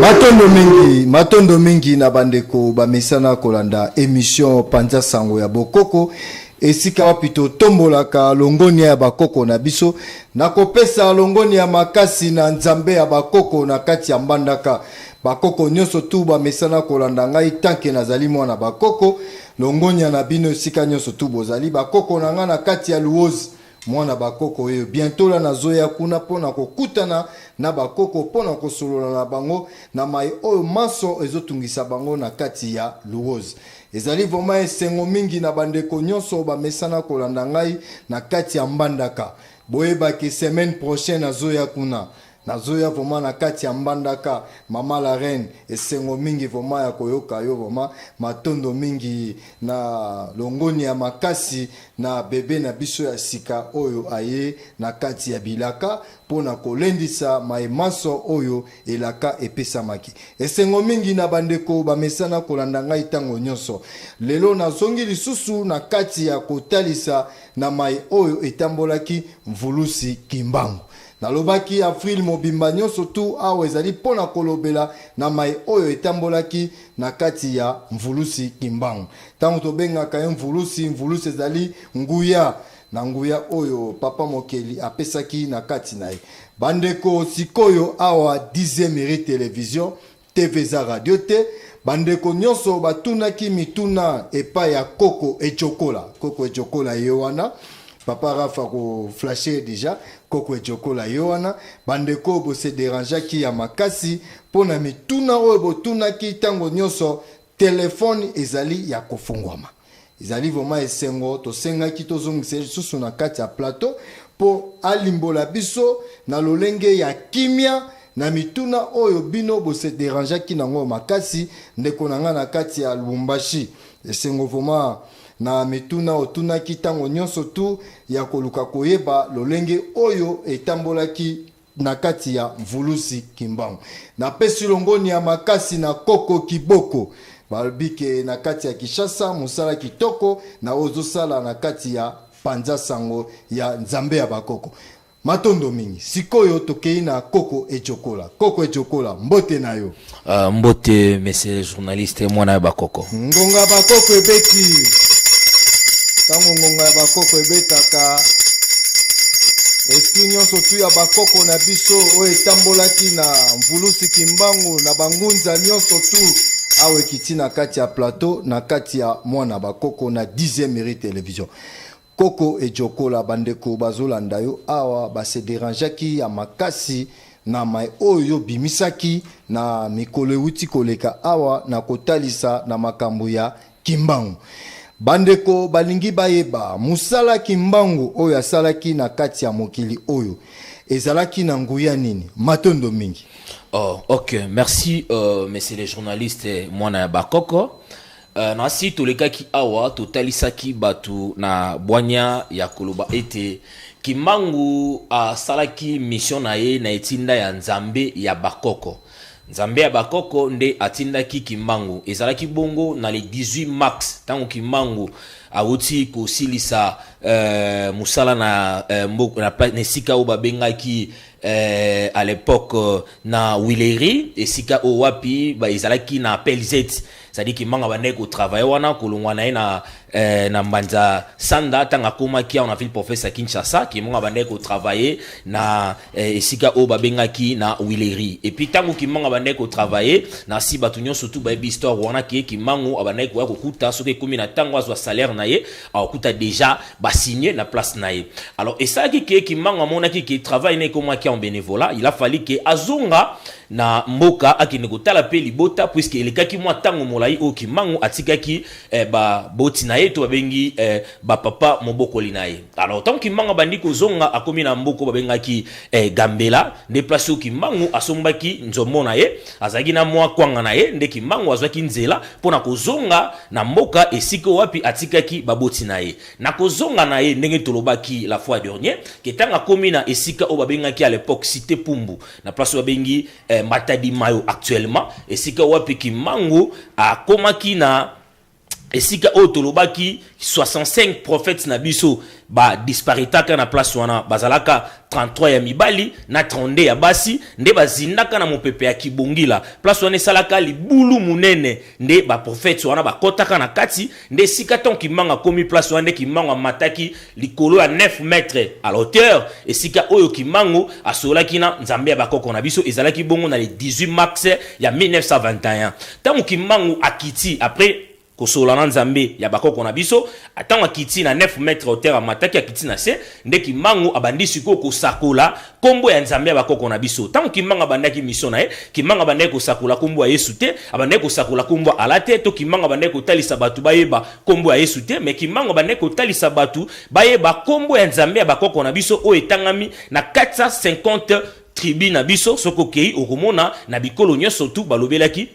Matondo mingi, matondo mingi na bandeko bamesana kolanda emission Panza Sango ya Bokoko esika wapi totombolaka longonia ya bakoko na biso na kopesa longonia makasi na Nzambe ya bakoko na kati ya Mbandaka. Bakoko nyonso tu bamesana kolanda ngai tanke nazali mwana bakoko. Longonia na bino esika nyonso tu bozali bakoko na ngai na kati ya Luozi. Mwana ba koko oyo bientot la nazoya kuna pona kokutana na ba koko pona kosolola na bango na maye oyo manso ezotungisa bango na kati ya Luwozi. Ezali vraiment esengo mingi na bandeko nionso bamesana kolanda ngai na kati ya Mbandaka. Boyeba ke semaine prochain nazoya kuna. Nazoya vraiment na kati ya mbandaka maman la reine esengo mingi vraiment ya koyoka yo vraiment matondo mingi na longoni ya makasi na bebe na biso ya sika oyo aye na kati ya bilaka mpo na kolendisa mai manso oyo elaka epesamaki esengo mingi na bandeko bamesana kolanda ngai ntango nyonso lelo nazongi lisusu na kati ya kotalisa na mai oyo etambolaki mvulusi kimbangu Nalobaki Avril mobimba nyonso tuu awa ezali mpo na kolobela na mai oyo etambolaki na kati ya mvulusi Kimbangu. Ntango tobengaka ye mvulusi, mvulusi ezali nguya, na nguya oyo Papa Mokeli apesaki na kati na ye. Bandeko, sikoyo awa Dixieme Rue Television, TV eza radio te. Bandeko nyonso batunaki mituna epai ya Koko Ejokola. Koko Ejokola ye wana. Papa Rafa ko flashe deja Koko Ejokola ye wana. Bandeko bo se derangeaki ya makasi mpo na mituna oyo botunaki ntango nyonso telefone ezali ya kofungwama. Ezali vraiment esengo tosengaki tozongisa ye lisusu na kati ya plateau mpo alimbola biso na lolenge ya kimia na mituna oyo bino bose derangeaki nango makasi ndeko na ngai na kati ya lubumbashi esengo vraiment na mituna otunaki ntango nyonso tu ya koluka koyeba lolenge oyo etambolaki na kati ya mvuluzi kimbangu napesi longoni ya makasi na koko kiboko balobi ke na kati ya kinshasa mosala kitoko na oyo ozosala na kati ya panza sango ya nzambe ya bakoko matondo mingi sikoyo tokei na koko ejokola koko ejokola mbote na yo Uh, mbote monsieur journaliste mwana ya bakoko ngonga ya bakoko ebeti ntango ngonga ya bakoko ebetaka esprit nyonso tu ya bakoko na biso oyo etambolaki na mvulusi kimbangu na bangunza nyonso tu awa ekiti na kati ya plateau na kati ya mwana bakoko na 10e mairie television Koko Edjokola bandeko bazolanda yo awa ba se derangeaki ya makasi na mai oyo yo obimisaki na mikolo ewuti koleka awa na kotalisa na makambo ya Kimbangu. Bandeko balingi bayeba mosala Kimbangu oyo asalaki na kati ya mokili oyo ezalaki na nguya nini? Matondo mingi. Oh, ok, merci euh, monsieur le journaliste mwana ya bakoko. Eh, na nsi tolekaki awa totalisaki bato na bwanya ya koloba ete kimbangu asalaki mission na ye na etinda ya nzambe ya bakoko nzambe ya bakoko nde atindaki kimbangu ezalaki bongo na le 18 mars ntango kimbangu awuti kosilisa eh, mosala na, eh, mboka, na, na esika oyo babengaki eh, à l'époque na wileri esika oyo wapi ezalaki na pelzet cestadire kimanga bandaki kotravaille wana kolongwa na ye na, eh, na mbanza sanda ntango akomaki awa na ville professeur kinshasa kimanga bandaki kotravaille na eh, esika oyo babengaki na willerie epuis ntango kimanga bandaki kotravaille na si bato nyonso tu bayebi histoire wana ke kimango abandaki koya kokuta soki ekomi na ntango azwa salaire na ye akokuta déjà basigne na place na ye alors esalaki ke kimanga amonaki ke travail na ekomaki en bénévolat il a fallu ke azonga na mboka akende kotala pe libota puisque elekaki mua tango molayi oyo kimbangu atikaki eh, ba boti na ye to babengi eh, ba papa mobokoli na ye alors tango kimbangu abandi kozonga akomi na mboko babengaki eh, gambela nde place oyo kimbangu asombaki nzombo na ye azalaki na mwa kwanga na ye nde kimbangu azwaki nzela mpo na kozonga na mboka esika wapi atikaki baboti na ye na kozonga na ye ndenge tolobaki la fois dernier ke ntango akomi na esika oyo babengaki à l'époque cité pumbu na place oyo babengi eh, Matadi Mayo actuellement, esika wapi Kimbangu akomaki na esika oyo tolobaki 65 prophètes na biso ba disparitaka na place wana bazalaka 33 ya mibali na 32 ya basi nde bazindaka na mopepe ya kibongila place wana esalaka libulu munene nde ba prophètes wana bakotaka na kati Nde esika tango Kimbangu akomi place wana nde Kimbangu amataki likolo ya 9 mètres à la hauteur esika oyo Kimbangu asololaki na Nzambe ya bakoko na biso ezalaki bongo na le 18 mars ya 1921 tango Kimbangu akiti après kosolola na Nzambe ya bakoko na biso tango akiti na 9 mètres hauteur amataki akiti na se nde Kimbangu abandi sikoyo kosakola Kombo ya Nzambe ya bakoko na biso. Tango Kimanga abandaki mission na ye, Kimanga abandaki kosakola kombo ya Yesu te, abandaki kosakola kombo ya Allah te, to Kimanga abandaki kotalisa bato bayeba kombo ya Yesu te, mais Kimanga abandaki kotalisa bato bayeba kombo ya Nzambe ya bakoko na biso oyo etangami na 450 tribus na biso. Soki okei okomona na bikolo nyonso tout balobelaki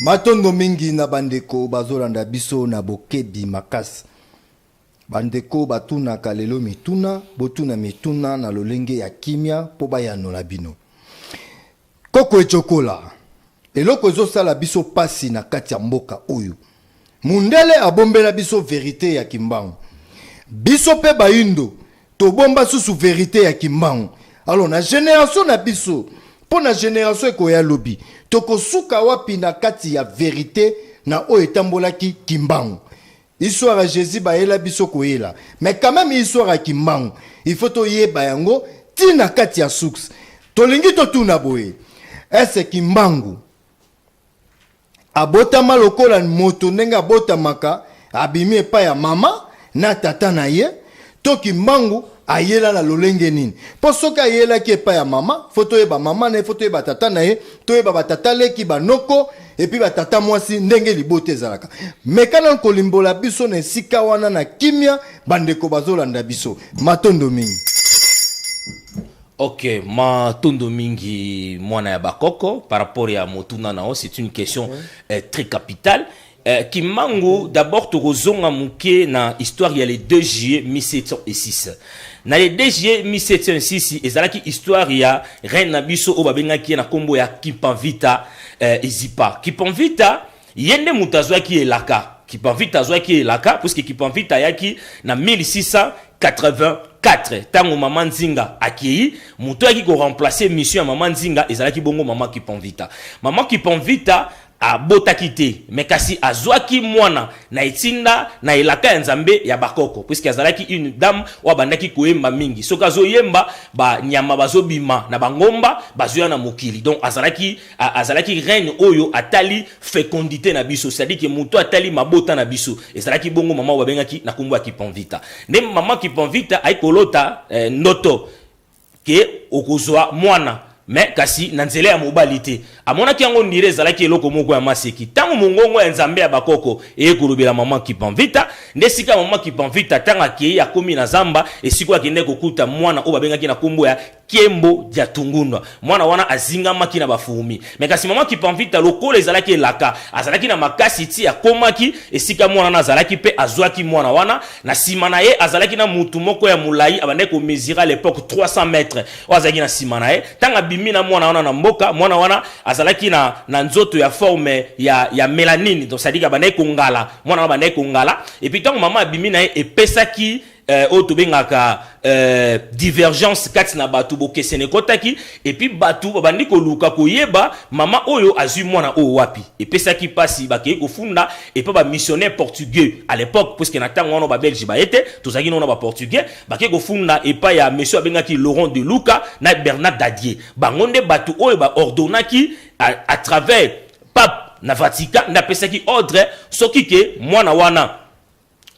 matondo mingi na bandeko bazolanda biso na bokebi makasi bandeko batunaka lelo mituna botuna mituna na lolenge ya kimia mpo bayanola bino koko ecokola eloko ezosala biso mpasi na kati ya mboka oyo Mundele abombela biso verite ya kimbangu biso pe bayindo tobomba susu verite ya kimbangu alors na generation na biso mpo na generation ekoya lobi tokosuka wapi na kati ya verite na oyo etambolaki kimbangu histoire ya jesus bayela biso koyela mais quand même histoire ya kimbangu il faut toyeba yango ti na kati ya source tolingi totuna boye ese kimbangu Abotama lokola moto ndenge abotamaka, abimi epai ya mama na tata na ye, to kimbangu ayela na lolenge nini? Mpo soki ayelaki epai ya mama, fo toyeba mama na ye, fo toyeba tata na ye, toyeba ba tata leki, ba noko, et puis ba tata mwasi ndenge libota ezalaka. Meka nanu kolimbola biso na esika wana na kimia, bandeko bazolanda biso. Matondo mingi. Ok, matondo mingi mwana ya bakoko par rapport ya motuna nao c'est une question okay. Mhm. euh, très capitale euh, Kimangu okay. d'abord tokozonga moke na histoire ya le 2 juillet 1706 na le 2 juillet 1706 ezalaki histoire ya reine na biso oyo babengaki ye na nkombo ya Kimpanvita euh, Ezipa Kimpanvita Ye nde moto azwaki elaka. Kipavita azwaki elaka puisque Kipavita ayaki na 1684 tango mama Nzinga akeyi, moto ayaki ko remplacer mission ya mama Nzinga ezalaki bongo mama Kipavita. Mama Kipavita abotaki te mais kasi azwaki mwana na etinda na elaka ya Nzambe ya ba koko puisque azalaki une dame oyo abandaki koyemba mingi. Soki azoyemba ba nyama bazobima na ba ngomba bazoya na mokili donc azalaki A, azalaki reine oyo atali fecondite na biso, c'est-à-dire que moto atali mabota na biso. Ezalaki bongo mama oyo babengaki na kombo ya Kiponvita. Nde mama Kiponvita ayi kolota eh, ndoto ke okozwa mwana me kasi na nzela ya mobali te amonaki yango ndire ezalaki eloko moko ya maseki ntango mongongo ya nzambe ya bakoko eye kolobela mama kipanvita nde esika mama kipanvita ntango akei akomi na zamba esika oyo akendaki kokuta mwana oyo babengaki na nkombo ya Kiembo Diatungundwa. Mwana wana azingamaki na ba fourmis. Mais kasi maman Kipamvita lokola ezalaki elaka, azalaki na makasi ti akomaki esika mwana wana azalaki mpe azuaki mwana wana. Na sima na ye azalaki na mutu moko ya mulayi abandaki ko mesurer à l'epoque 300 mètres oyo azalaki na sima na ye. Tango abimi na mwana wana na mboka, mwana wana azalaki na, na nzoto ya forme ya, ya melanine, donc c'est à dire que abandaki kongala, mwana wana abandaki kongala. Et puis tango maman abimi na ye epesaki eh, oyo tobengaka eh, divergence kati na bato bokesene ekotaki epuis bato babandi koluka koyeba mama oyo azwi mwana oyo wapi epesaki mpasi bakei kofunda epa bamissionnaire portugais à l'époque puiske na ntango wana babelge baye te tozalaki nona baportugais bakei kofunda epai ya monsieur abengaki laurent de luka na bernard dadie bango nde bato oyo baordonnaki à, à travers pape na vatican nde apesaki ordre soki ke mwana wana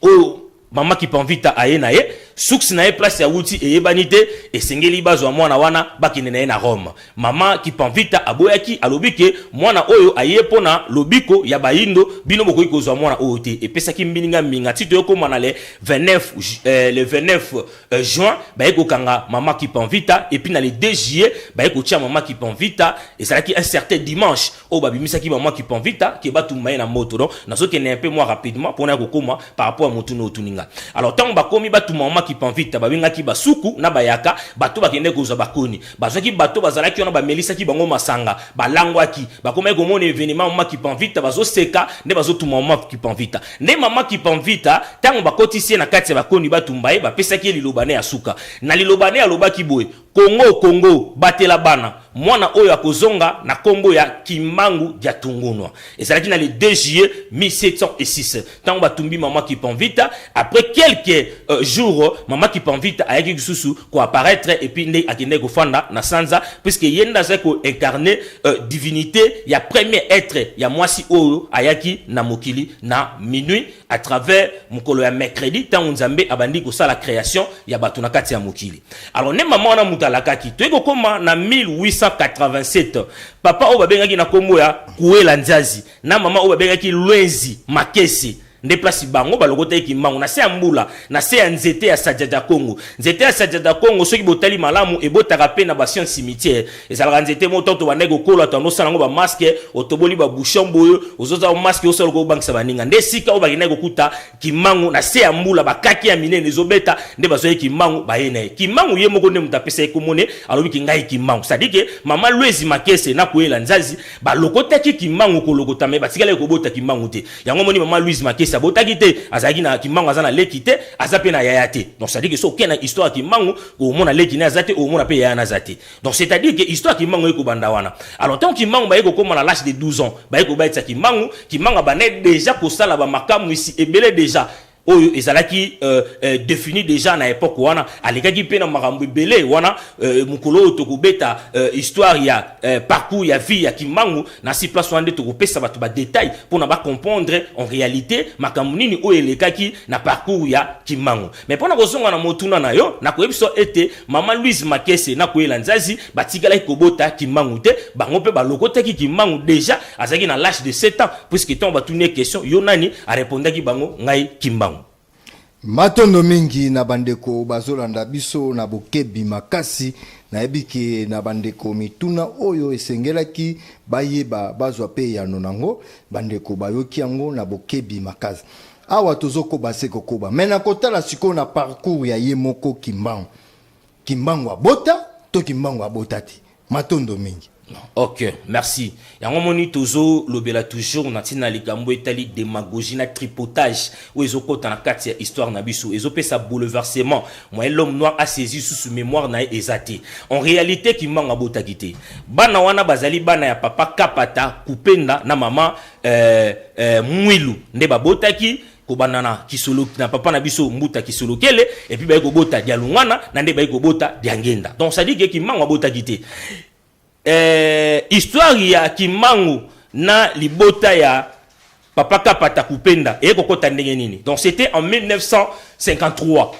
oyo mama kipanvita aye na ye suks na ye place ya wuti eyebani te esengeli bazwa mwana wana bakende na ye na rome mama kipanvita aboyaki alobi ke mwana oyo aye mpo na lobiko ya bayindo bino bokoki kozwa mwana oyo te epesaki mbilinga mbinga ti toyokoma na le 29, eh, le 29 eh, juin baye kokanga mama kipanvita epuis na le 2 juillet baye kotia mama kipanvita ezalaki un certain dimanche oyo babimisaki maman kipanvita ke batumba ye na moto donc nazokende un peu moi rapidement mpona ya kokoma par rapport ya motuna otuni nga alors ntango bakomi batumba maman kipanvita babengaki basuku na bayaka bato bakendaki kozwa bakoni bazwaki bato bazalaki wana bamelisaki bango masanga balangwaki bakomaki komona evenement maman kipanvita bazoseka nde bazotumba maman kipanvita nde maman kipanvita ntango bakotisi ye na kati ya bakoni batumba ye bapesaki ye liloba ne ya suka na liloba ne alobaki boye Congo Congo batela bana. Mwana oyo akozonga na kombo ya Kimbangu Diatungunua. Ezalaki na le 2 juillet 1706 tango batumbi mama Kipanvita. Après quelques euh, jours, mama Kipanvita ayaki lisusu ko apparaître et puis nde akendaki kofanda na Sanza puisque ye nde azalaki ko incarner euh, divinite ya premier être ya mwasi oyo ayaki na mokili na minuit. à travers mokolo ya mercredi ntango nzambe abandi kosala création ya bato na kati ya mokili alors nde mama wana moto alakaki toyei kokoma na 1887 papa oyo babengaki na nkombo ya kuela nzazi na mama oyo babengaki lwenzi makese nde place bango balokotaki kimbangu na se ya mbula na se ya nzete ya sajada kongo nzete ya sajada kongo soki botali malamu ebotaka mpe na basien cimetière Ezalaka nzete moko tanto bandaki kokola tanto osala yango bamaske otoboli babouchon boye ozoza maske osala okoki kobangisa baninga nde esika oyo bakendaki kokuta kimangu na se ya mbula bakaki ya minene ezobeta nde bazwaki kimangu baye na ye kimangu ye moko nde moto apesa ye komone alobi ki ngai kimangu sadike mama lwezi makese na koyela nzazi balokotaki kimangu kolokota me batikalaki kobota kimangu te yango moni mama lwezi makese abotaki te azalaki na kimangu aza na leki te aza mpe na yaya te donc sadike so oke na histoire ya kimangu omona leki ne aza te omona mpe yaya na aza te Donc c'est à dire que histoire Kimbangu eko banda wana. Alors tant Kimbangu ba eko koma na l'âge de 12 ans, ba eko baitsa Kimbangu, Kimbangu ba net déjà ko sala ba makamu ici ebele déjà oyo ezalaki euh, euh, défini déjà na époque wana alekaki mpe na makambo ebele wana euh, mokolo oyo tokobeta euh, histoire ya euh, parcours ya vie ya kimbangu na si place wana nde tokopesa bato badetail mpo na bacomprendre en réalité makambo nini oyo elekaki na parcours ya kimbangu Mais pona kozonga na motuna na yo, nakoyebisa ete mama Louise Makese na Kuela Nzazi batikalaki kobota Kimbangu te, bango pe balokotaki Kimbangu dejà azalaki na l'âge de 7 ans puisque tango batuni ye question yo nani, a repondaki bango ngai Kimbangu. Matondo mingi na bandeko bazolanda biso na bokebi makasi. Nayebi ke na bandeko mituna oyo esengelaki bayeba bazwa pe eyano nango, bandeko bayoki yango na bokebi makasi. Awa tozo koba se ko koba mais na kotala sikoyo na parcours ya ye moko Kimbangu. Kimbangu abota to Kimbangu abota te. Matondo mingi. Ok, merci. Yango moni tozo lobela toujours na tina likambo etali demagogie na tripotage ou ezo kota na kati ya histoire na biso. Ezo pesa bouleversement. Moyen l'homme noir a saisi sous mémoire na ezate. En réalité Kimbangu abota kite. Bana wana bazali bana ya papa Kapata, Kupenda na maman eh, eh, mwilu nde babotaki kobanda na kisolo na papa na biso mbuta kisolokele epuis baye kobota dialungana na nde baye kobota diangenda donc sadike ke kimbangu abotaki te eh, histoire ya kimbangu na libota ya papa kapata kupenda eye kokota ndenge nini donc c'était en 1953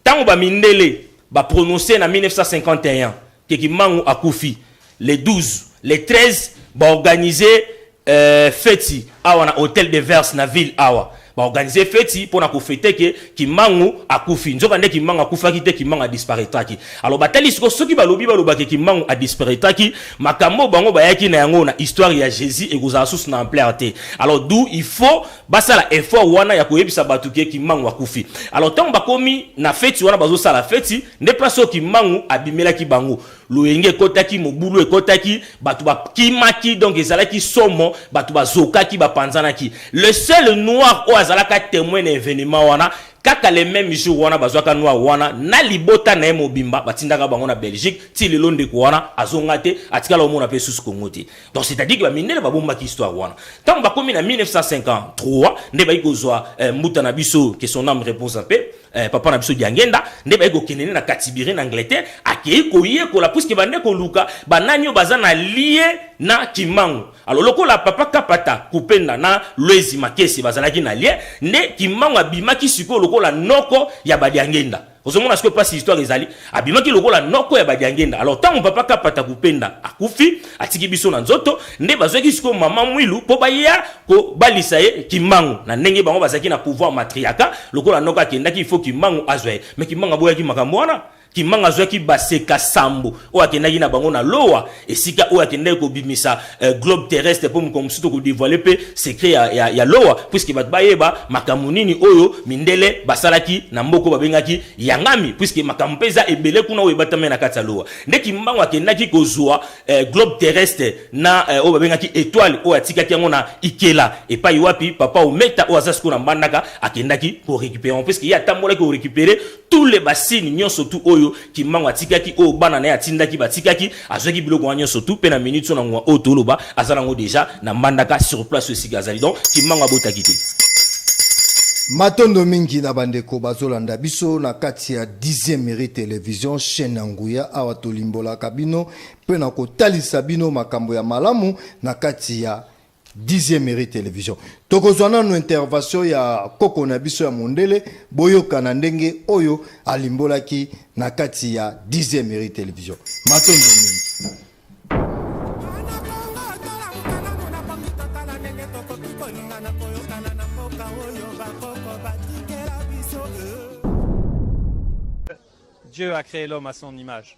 Tango ba mindele ba prononcer na 1951 que Kimbangu akufi, les 12, les 13 ba organiser euh, feti awa na hotel de Verse na ville awa ba organiser feti pona ko fete que Kimbangu akufi. Nzoka nde Kimbangu akufaki te, Kimbangu a disparaitraki. Alors batali siko soki balobi baloba que Kimbangu a disparaitraki, makambo oyo bango bayaki na yango na histoire ya Jesus ekozala susu na ampleur te. Alors d'où il faut basala effort wana ya koyebisa bato ke kimbangu akufi alors ntango bakomi na feti wana bazosala feti nde place oyo kimbangu abimelaki bango loyenge ekotaki mobulu ekotaki bato bakimaki donc ezalaki somo bato bazokaki bapanzanaki le seul noir oyo azalaka temoin na evenement wana kaka le même jour wana bazwaka noir wana na libota na ye mobimba batindaka bango na belgique ti lelo ndeko wana azonga te atikala omona mpe susu kongo te Donc c'est-à-dire que ba mindele ba bombaki histoire wana. Tant ba komi na 1953 nde bayi kozwa eh, mbuta na biso que son âme repose en paix. Eh, papa na biso Diangenda nde bayi kokende na Katibiri na Angleterre akeyi koyekola puisque bande koluka banani oyo baza na lie na Kimbangu. Alors lokola papa Kapata Kupenda na Loezi Makese bazalaki na lie nde Kimbangu abimaki sikoyo lokola noko ya ba Diangenda. ozomona sikoyo mpasi histoire ezali abimaki lokola noko ya badiangenda alors ntango papa kapata kupenda akufi atiki biso na nzoto nde bazwaki sikoyo mama mwilu mpo baya kobalisa ye kimbangu na ndenge bango bazalaki na pouvoir matriaka lokola noko akendaki ifo kimbangu azwa ye me kimbangu aboyaki makambo wana kimbangu azwaki baseka sambo oyo akendaki na bango na lowa esika oyo akendaki kobimisa euh, globe terrestre mpo mokolo mosusu tokodevoile mpe secret ya, ya, ya lowa puiske bato bayeba makambo nini oyo mindele basalaki na mboko babengaki yangami puiske makambo mpe eza ebele kuna oyo ebatami na kati ya lowa nde kimbango akendaki kozwa euh, globe terrestre na euh, oyo babengaki etoile oyo atikaki yango na ikela epai wapi papa ometa oyo aza sikoyo na mbandaka akendaki korecupere yango puiske ye atambolaki korecupere tout les bassines nyonso tout oyo kimbangu atikaki oyo bana na ye atindaki batikaki azwaki biloko wana nyonso tout mpe na minute so na ngonga oyo toloba aza nango deja na mbandaka sur place oyo esika azali donc kimbangu abotaki te matondo mingi na bandeko bazolanda biso na kati ya 10e mérite télévision chaîne ya nguya awa tolimbolaka bino mpe na kotalisa bino makambo ya malamu na kati ya dixième mairie télévision tokozwa nanu intervention ya koko na biso ya mondele boyokana ndenge oyo alimbolaki na kati ya dixième mairie télévision matondo mingi Dieu a créé l'homme à son image.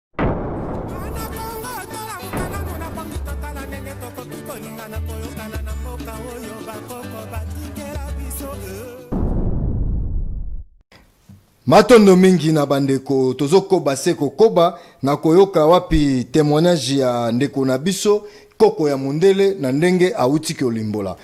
matondo mingi na bandeko tozokoba se kokoba na koyoka wapi temoignage ya ndeko na biso koko ya mondele na ndenge awuti kolimbola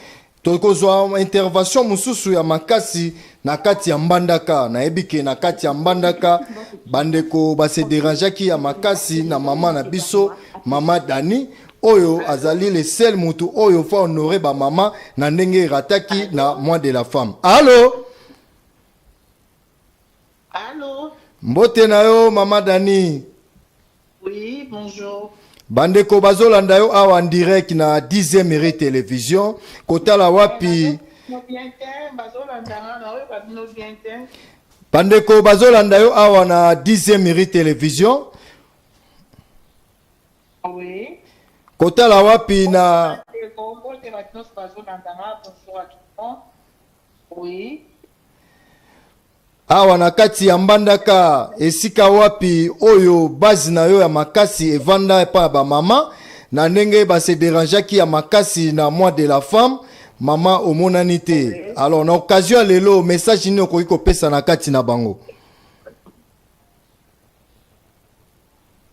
tokozwa intervention mosusu ya makasi na kati ya mbandaka nayebi ke na kati ya mbandaka bandeko base derangeaki ya makasi na mama na biso mama dani oyo azali le sel motu oyo fa honore bamama na ndenge erataki na mois de la femme alo Allô? Mbote na yo mama Dani. Oui, bonjour. Bandeko bazolanda yo awa en direct na 10e mairie television kotala wapi bandeko bazolanda yo awa na 10e mairie television oui. kotala wapi na oui. Awa na kati ya Mbandaka, esika wapi oyo base na yo ya makasi evanda epa ya bamama, na ndenge ba se derangeaki ya makasi na mois de la femme, mama omonani te. Alors na occasion ya lelo, message nini okoki kopesa na kati na bango?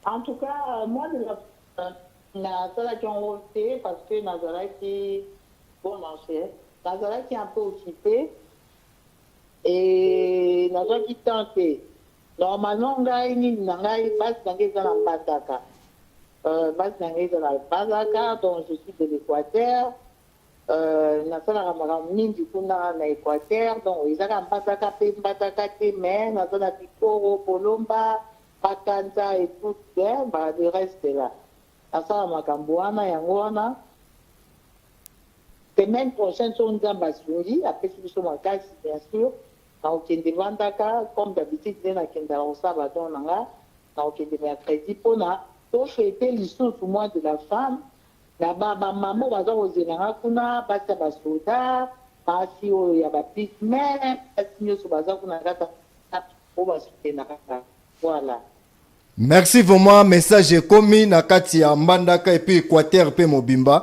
En tout cas, euh, moi, de la- euh, nasalaki yango te parce que nazalaki bon marché nazalaki un peu occupé Eh, nazwaki temps te normalement ngai nini na ngai base na ngai eza na mbandaka euh, base na ngai eza na mbandaka donc je suis de l'équateur euh, nasalaka makambo mingi kuna na équateur donc ezaka mbandaka mpe mbandaka te mais naza na bikoro bolomba bakanza etout le reste là Asala makambo wana yango wana semaine prochaine soki nzambe asungi apesi biso makasi bien sûr nakokende vandaka comme d'habitude nde nakendaka kosala badon na nga nakokende mercredi mpona tofete lisusu mois de la femme na bamama oyo baza kozela nga kuna basi ya basoda basi oyo ya bapigme basi nyonso baza kuna kaka oyo basutenaka voilà Merci vraiment message ekomi na kati ya Mbandaka et puis Equateur pe mobimba.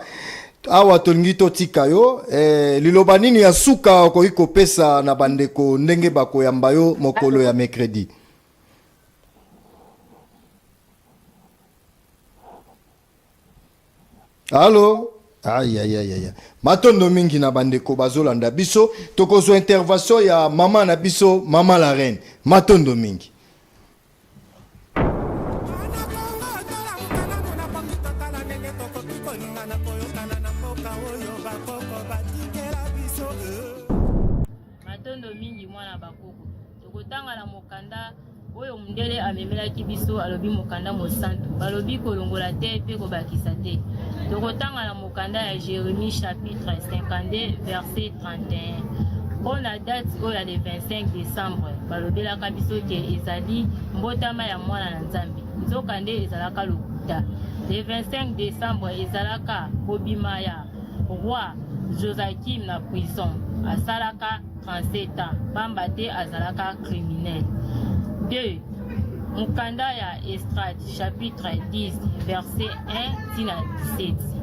Awa tolingi totika yo eh, liloba nini ya suka okoki kopesa na bandeko ndenge bakoyamba yo mokolo ya mercredi? Allô ayayayaya matondo mingi na bandeko bazolanda biso tokozwa intervention ya mama na biso mama la reine matondo mingi Tokotanga na mokanda oyo mondele amemelaki biso, alobi mokanda mosantu, balobi kolongola te mpe kobakisa te. Tokotanga na mokanda ya Jeremie chapitre 52 verset 31 mpo na date oyo ya le 25 décembre balobelaka biso ke ezali mbotama ya mwana na nzambe nzokande ezalaka lokuta le 25 décembre ezalaka kobima ya roi josakim na prison asalaka 37 ans pamba te azalaka criminel 2 mokanda ya estrade chapitre 10 verset 1 tina 17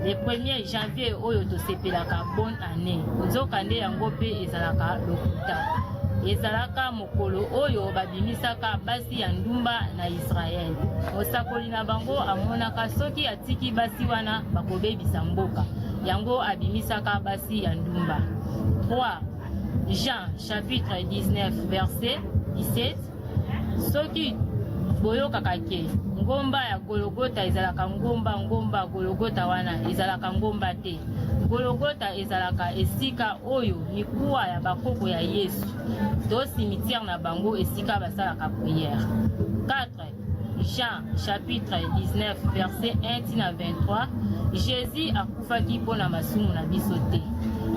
le 1er janvier oyo tosepelaka bonne année nzokande yango mpe ezalaka lokuta ezalaka mokolo oyo babimisaka basi ya ndumba na israele mosakoli na bango amonaka soki atiki basi wana bakobebisa mboka yango abimisaka basi basi ya ndumba 3 jean chapitre 19 verset 17 soki boyokaka ke ngomba ya gologota ezalaka ngomba ngomba gologota wana ezalaka ngomba te gologota ezalaka esika oyo mikuwa ya bakoko ya yesu to cimetière na bango esika basalaka prière 4 Jean chapitre 19 verset 1 ti na 23 Jésus akufaki mpo na masumu na biso te.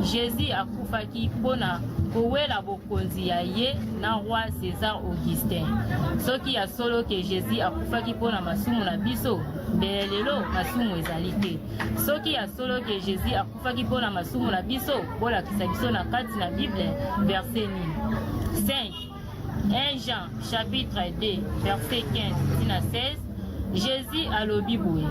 Jésus akufaki mpo na kowela bokonzi ya ye na roi César Augustin. Soki ya solo ke Jésus akufaki mpo na masumu na biso, mbele lelo masumu ezali te. Soki ya solo ke Jésus akufaki mpo na masumu na biso, bolakisa biso na kati na Bible verset nini? 5 1 Jean chapitre 2 verset 15 ti na 16 Jésus alobi boye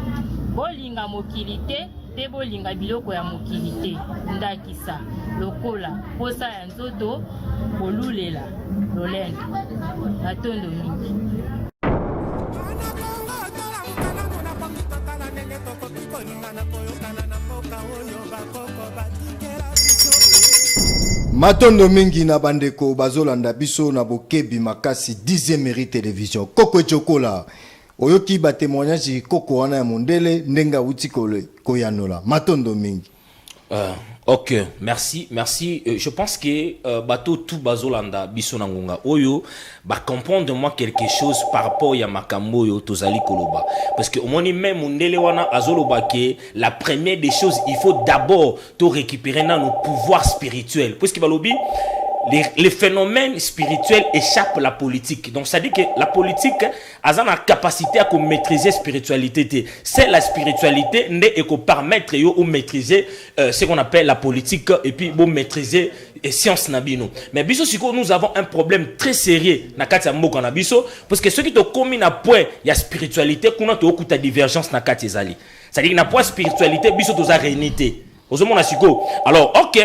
bolinga mokili te mpe bolinga biloko ya mokili te ndakisa lokola mposa ya nzoto kolulela lolendo matondo mingi matondo mingi na bandeko bazolanda biso na bokebi makasi 10 mairie television koko ecokola oyoki batemoignage koko wana ya mondele ndenge awuti koyanola matondo mingi Euh, ok, merci, merci. Euh, je pense que euh, bateau tout bazolanda biso na ngonga oyo ba comprendre moi quelque chose par rapport ya makambo yo tozali koloba parce que omoni même mundele wana azoloba que la première des choses il faut d'abord to récupérer na nos pouvoirs spirituels parce que balobi les, les phénomènes spirituels échappent à la politique donc ça dit que la politique aza na capacité ya komaîtrise spiritualité te c'est la spiritualité nde ekopermettre yo omaîtrise euh, ce qu'on appelle la politique et puis bomaîtrise eh, science na bino mais biso sikoyo nous avons un problème très sérieux na kati ya mboka na biso parce que soki tokomi na point ya spiritualité kuna tookuta divergence na kati ezali c'est-à-dire na point spiritualité biso toza réuni te ozomona sikoyo alors ok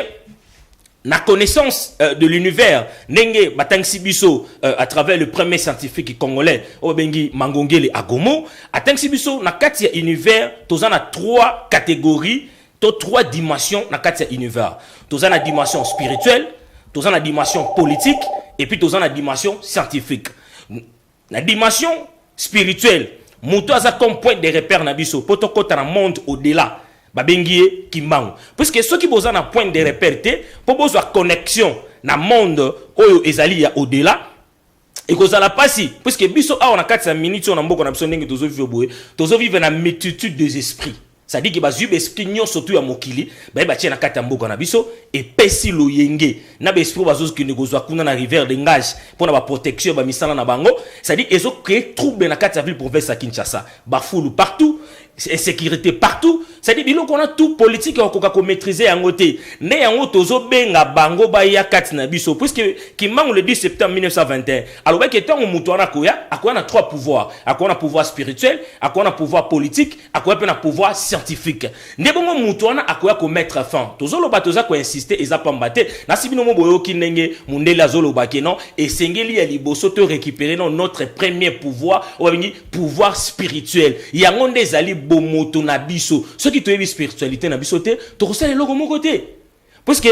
na connaissance euh, de l'univers ndenge batangisi biso euh, à travers le premier scientifique congolais oyo babengi mangongele agomo atangisi biso na kati ya univers toza na trois catégories to trois dimensions na kati ya univers toza na dimension spirituelle toza na dimension politique et puis toza na dimension scientifique Na dimension spirituelle, mutu aza comme point de repère na biso po tokota na monde au delà. Babengi ye Kimbangu. Puisque soki boza na point de repère te po bozwa connexion na monde oyo ezali ya au delà, ekozala pasi puisque biso awa na kati ya minutes oyo na mboka na biso ndenge tozo vivre boye, tozo vivre na multitude des esprits. Sadiki bazui b'esprit nionso tu ya mokili baye batie na kati ya mboka na biso epesi loyenge na b'esprit bazozokende kozwa kuna na river de ngage mpo na baprotection ya bamisala na bango sadiki ezo cree trouble na kati ya ville province ya Kinshasa bafulu partout insécurité partout sadiki biloko wana tout politique okoka komaîtrise yango te nde yango tozobenga bango baya kati na biso puisque kimbangu le 10 septembre 1921 alobaki ntango moto wana akoya akoya na trois pouvoir akoya na pouvoir spirituel akoya na pouvoir politique akoya mpe na pouvoir scientifique nde bongo moto wana akoya komettre fin tozoloba toza koinsiste eza pamba te nasi bino mo boyoki ndenge mondele azoloba ke non esengeli ya liboso to récupérer non notre premier pouvoir oyo babengi pouvoir spirituel yango nde ezali bomoto na biso soki toyebi spiritualité na biso te tokosala eloko moko te puisque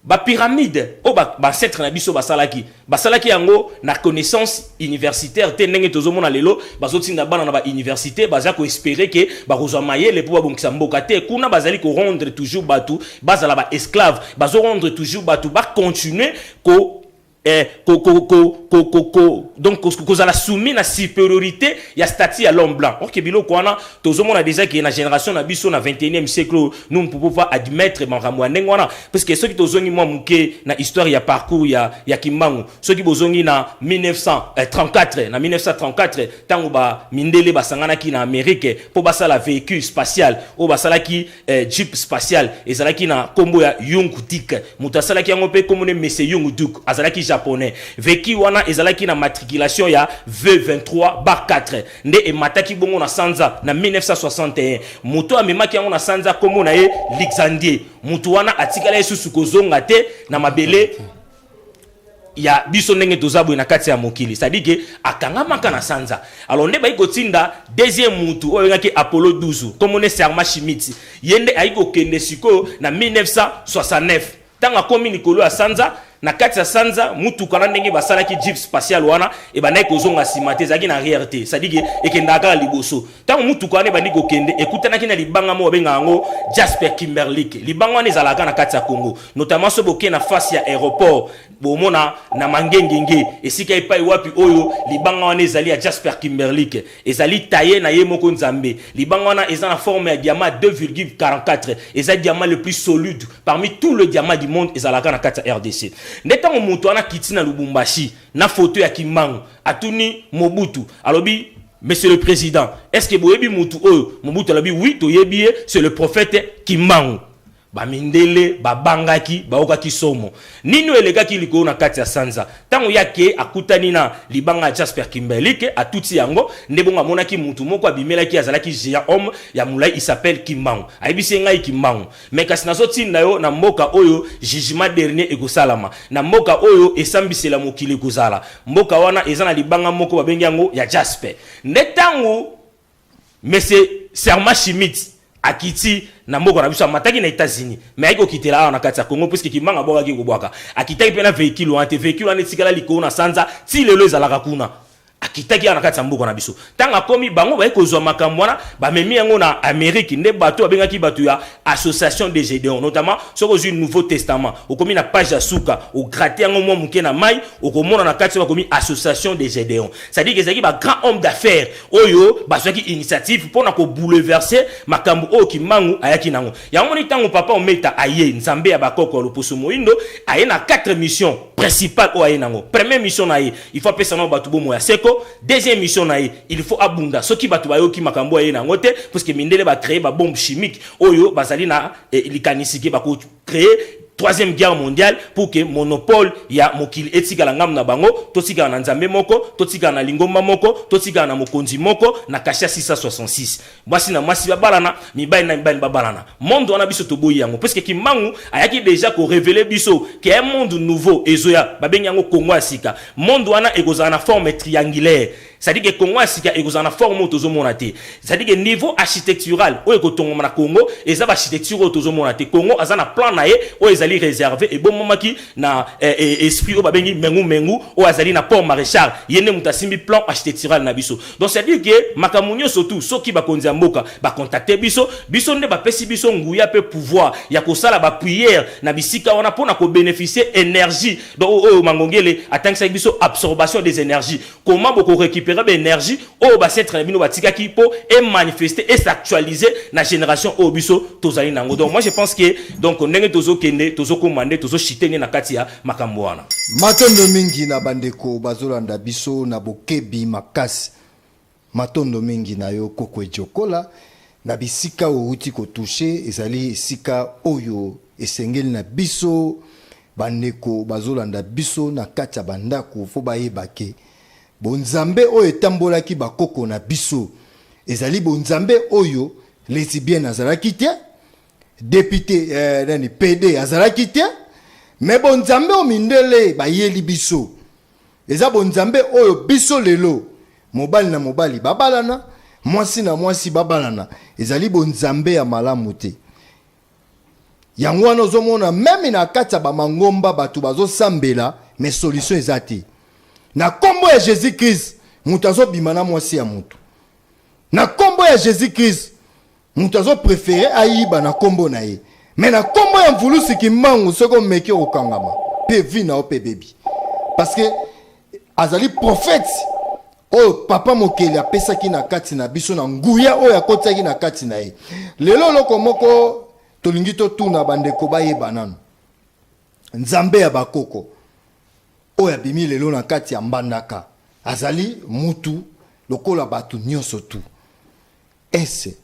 Ba pyramides oyo ba ancetres na biso basalaki, basalaki yango na connaissance universitaire te ndenge tozomona lelo bazotinda bana na ba universites baza ko esperer que bakozwa mayele mpo babongisa mboka te. Kuna bazali ko rendre toujours batu bazala ba esclaves, bazo rendre toujours batu ba continuer ko eh, ko, ko, ko, ko, ko, ko, donc kozala soumis na supériorité ya statut ya l'homme blanc ok biloko wana tozomona déjà ke na génération na biso na 21e siècle nous ne pouvons pas admettre makambo ya ndenge wana parce que soki tozongi mwa moke na histoire ya parcours ya, ya kimbangu soki bozongi na 1934 eh, na 1934 ntango ba mindele basanganaki na amérique mpo basala véhicule spatial oyo basalaki eh, jeep spatial ezalaki na kombo ya Yung Dik moto asalaki yango mpe kombo ne Mese Yung Duk azalaki japonais veki wana ezalaki na matriculation ya V23 bar 4 nde emataki bongo na sanza na 1961 moto amemaki yango na sanza kombo na ye Luxandie moto wana atikala ye susu kozonga te na mabele ya biso ndenge toza boye na kati ya mokili c'est-à-dire que akangamaka na sanza alors nde bayi kotinda deuxième mutu oyo abengaki apollo 12 komone serma shimiti ye nde ayi kokende sikoyo na 1969 ntango akomi likolo ya sanza na kati ya sanza mutuka na ndenge basalaki jeep spatial wana ebandaki kozonga nsima te ezalaki na arrière te c'est-à-dire que ekendaka kaka liboso ntango motuka wana ebandi kokende ekutanaki na libanga moko babenga yango jasper kimberlik libanga wana ezalaka na kati ya congo notamment so bokei na face ya aéroport bomona na mangengenge esika epai wapi oyo libanga wana ezali ya jasper kimberlik ezali taye na ye moko nzambe libanga wana eza na forme ya diamant 2,44 eza diamant le plus solide parmi tout le diamant du monde ezalaka na kati ya rdc nde ntango moto wana akiti na lubumbashi na foto ya kimbangu atuni mobutu alobi Monsieur le President, est-ce que boyebi mutu oyo Mobutu alobi oui toyebi ye, c'est le prophète Kimbangu. Ba mindele babangaki, baokaki somo. Nini oyo elekaki likolo na kati ya sanza? Tango ye akei akutani na libanga ya Jasper Kimberlike, atuti yango, nde bongo amonaki mutu moko abimelaki ye, azalaki geant homme ya mulayi, il s'appelle Kimbangu. Ayebisi ye ngai Kimbangu. Mais kasi nazo tinda yo na mboka oyo jugement dernier ekosalama, na mboka oyo esambisela mokili ekozala. Mboka wana eza na libanga moko babengi yango ya jaspe. Nde tango monsieur Serma Schmidt akiti na mboka na biso, amataki na Etats-Unis, mais ayaki kokitela awa na kati ya Congo puisque kimbangu abwakaki kobwaka. Akitaki mpe na vehicule wana te, vehicule wana etikala likolo na sanza ti lelo ezalaka kuna. Akitaki awa na kati ya mboka na biso. Ntango akomi, bango baye kozwa makambo wana, bamemi yango na Amerique. Nde bato babengaki bato ya Association de Gedeon. Notamment, soki ozwi Nouveau Testament, okomi na page ya suka, o gratter yango mwa moke na mayi, okomona na kati bakomi Association de Gedeon. C'est à dire que ezalaki ba grands hommes d'affaires oyo bazwaki initiative mpo na ko bouleverser makambo oyo Kimbangu ayaki na yango. Yango omoni ntango Papa Ometa aye, Nzambe ya ba koko ya loposo moyindo, aye na quatre missions principales oyo aye na yango. Première mission na ye, Il faut apesa nao bato bomoi ya seko. Deuxième mission na ye, il faut abunda. Soki bato bayoki makambo aye na yango te, parce que mindele ba créer ba bombes chimiques oyo bazali na eh, likanisi ke bako créer troisième guerre mondiale pour que monopole ya mokili etikala ngambo na bango totikala na nzambe moko totikala na lingomba moko totikala na mokonzi moko na kasha 666 Mwasi na mwasi babalana, mibali na mibali babalana. Monde wana biso toboyi yango parce que Kimbangu ayaki déjà ko révéler biso qu'il y a un monde nouveau ezoya babengi yango Congo ya sika. Monde wana ekozala na forme triangulaire. C'est-à-dire que Congo ya sika ekozala na forme oyo tozomona te. C'est-à-dire que niveau architectural oyo ekotongoma na Congo eza ba architecture oyo tozomona te. Congo aza na plan na ye oyo ezali réservé ebomamaki na eh, eh, esprit oyo babengi Mengu Mengu oyo azali na Port Maréchal. Ye nde moto asimbi plan architectural na biso. Donc c'est à dire que makambo nyoso tout soki bakonzi ya mboka ba contacter biso, biso nde bapesi biso nguya mpe pouvoir ya kosala ba prières na bisika wana mpo na ko beneficier energie donc oyo oyo Mangongele atangisaki biso absorbation des energies. Comment boko recuperer ba energies oyo b'ancetres na bino batikaki mpo e manifester, e s'actualiser na generation oyo biso tozali na yango. Donc moi je pense que donc ndenge tozo kende tozo koma nde tozo chuter nde na kati ya makambo wana. Matondo mingi na bandeko bazolanda biso na bokebi makasi. Matondo mingi na yo Koko Ejokola na bisika owuti kotushe ezali esika oyo esengeli na biso bandeko bazolanda biso na kati ya bandako fo bayeba ke bonzambe oyo etambolaki bakoko na biso ezali bonzambe oyo lesibienne azalaki te Depute eh, nani PD azalaki te me bonzambe oyo mindele bayeli biso eza bonzambe oyo biso lelo mobali na mobali babalana mwasi na mwasi babalana ezali bonzambe ya malamu te yango wana ozomona meme na kati ya bamangomba bato bazosambela me solution eza te na nkombo ya jésus krist moto azobima na mwasi ya moto na nkombo ya jésus krist mutu azo prefere ayiba na kombo na ye me na kombo ya mvulusi kimbangu soki omeki okokangama mpe vi na yo mpe bebi parceke azali profete oyo papa mokeli apesaki na kati na biso na nguya oyo akotisaki na kati na ye lelo oloko moko tolingi totuna bandeko bayeba nano nzambe ya bakoko oyo abimi lelo na kati ya mbandaka azali mutu lokola bato nyonso tu Ese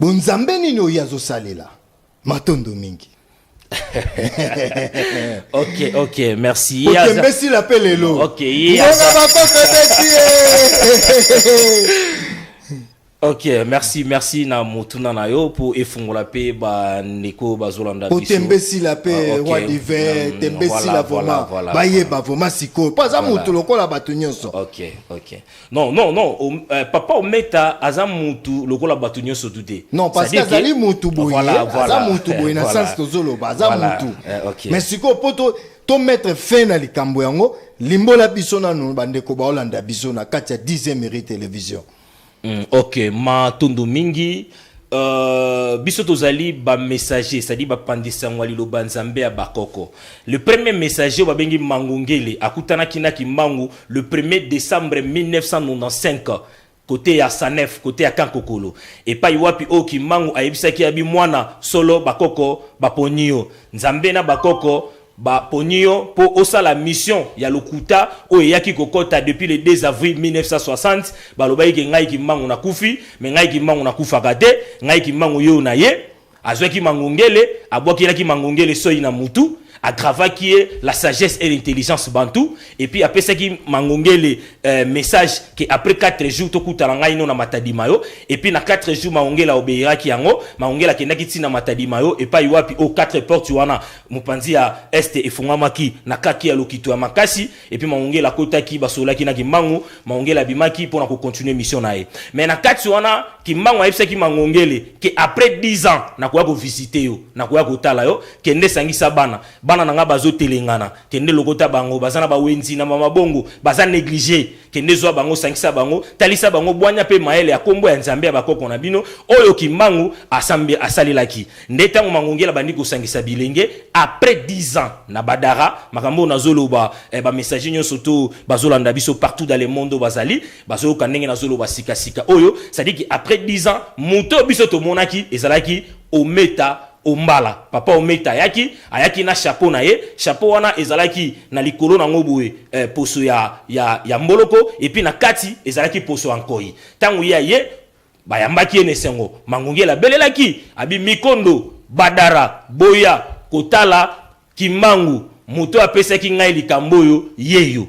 bonzambe nini oyo azosalela matondo mingi ok ok merci okembesila mpe lelo ngonga bakoko ebeti ok merci merci na motuna na yo mpo efungola mpe bandeko bazolanda biso otembesila mpe ah, roi diver mm, tembesila vraimen bayeba vraimen sikoyo mpo aza motu lokola bato nyonso ok ok Non, non, non, Om- euh, papa Ometa aza mutu lokola batu nyoso tu te. non parce que C'est-à-dire azali mutu boye Voilà, aza voilà. mutu boye na Voilà. sens tozoloba aza Voilà. mutu Eh, ok. mais sikoyo mpo to to mettre fin na likambo yango limbola biso nanu bandeko baolanda biso na kati ya 10 mairie télévision Mm, ok matondo mingi Euh, biso tozali bamessager cestadi bapandisi yango ya liloba nzambe ya bakoko le premier messager oyo babengi mangu ngele akutanaki na kimbangu le 1er décembre 1995 kote ya sanef kote ya kankokolo epai wapi oyo kimbangu ayebisaki ya bimwana solo bakoko baponi yo nzambe na bakoko Ba poni yo po osala mission ya lokuta oyo eyaki ko kota depuis le 2 avril 1960, ba lobaki ke ngai kimbangu na kufi, mais ngai kimbangu na kufaka te, ngai kimbangu yo na ye, azuaki mangongele, abuakelaki mangongele soyi na mutu, a gravaki ye la sagesse et l'intelligence bantou, et puis apesaki mangongele eh, message ke après 4 jours to kutana ngai no na matadi mayo, et puis na 4 jours mangongele a obeiraki yango, mangongele akendaki ti na matadi mayo epayi wapi o 4 portes wana Mopanzi ya este efongamaki na kake ya lokito ya makasi, epi Maungele akotaki, basololaki na Kimbangu, Maungele abimaki pona ko continuer mission na ye. Mais na kati wana, Kimbangu ayebisaki Mangongele que après 10 ans nakoya ko visiter yo, nakoya kotala yo, kende sangisa bana, bana na ngai bazo telengana, kende lokota bango, baza na ba wenzi, na ba mabongo, baza negliger, Kende zwa bango, sangisa bango, talisa bango bwanya mpe mayele ya nkombo ya Nzambe ya bakoko na bino, oyo kimbangu asambe, asalelaki. Nde ntango Mangongele abandi kosangisa bilenge, après 10 ans na Badara, makambo oyo nazoloba, eh, ba messagers nyonso to bazolanda biso partout dans le monde oyo bazali, bazoyoka ndenge nazoloba sika sika oyo, c'est-à-dire que après 10 ans, moto oyo biso tomonaki ezalaki Ometa Ombala, papa Ometa ayaki, ayaki na chapeau na ye, chapeau wana ezalaki na likolo na ngo boye eh, poso ya, ya, ya mboloko, et puis na kati ezalaki poso ya nkoyi. Tango ye aye, bayambaki ye na esengo. Mangungele abelelaki, abi, Mikondo, Badara, boya kotala Kimbangu, moto oyo apesaki ngai likambo oyo, yeyo.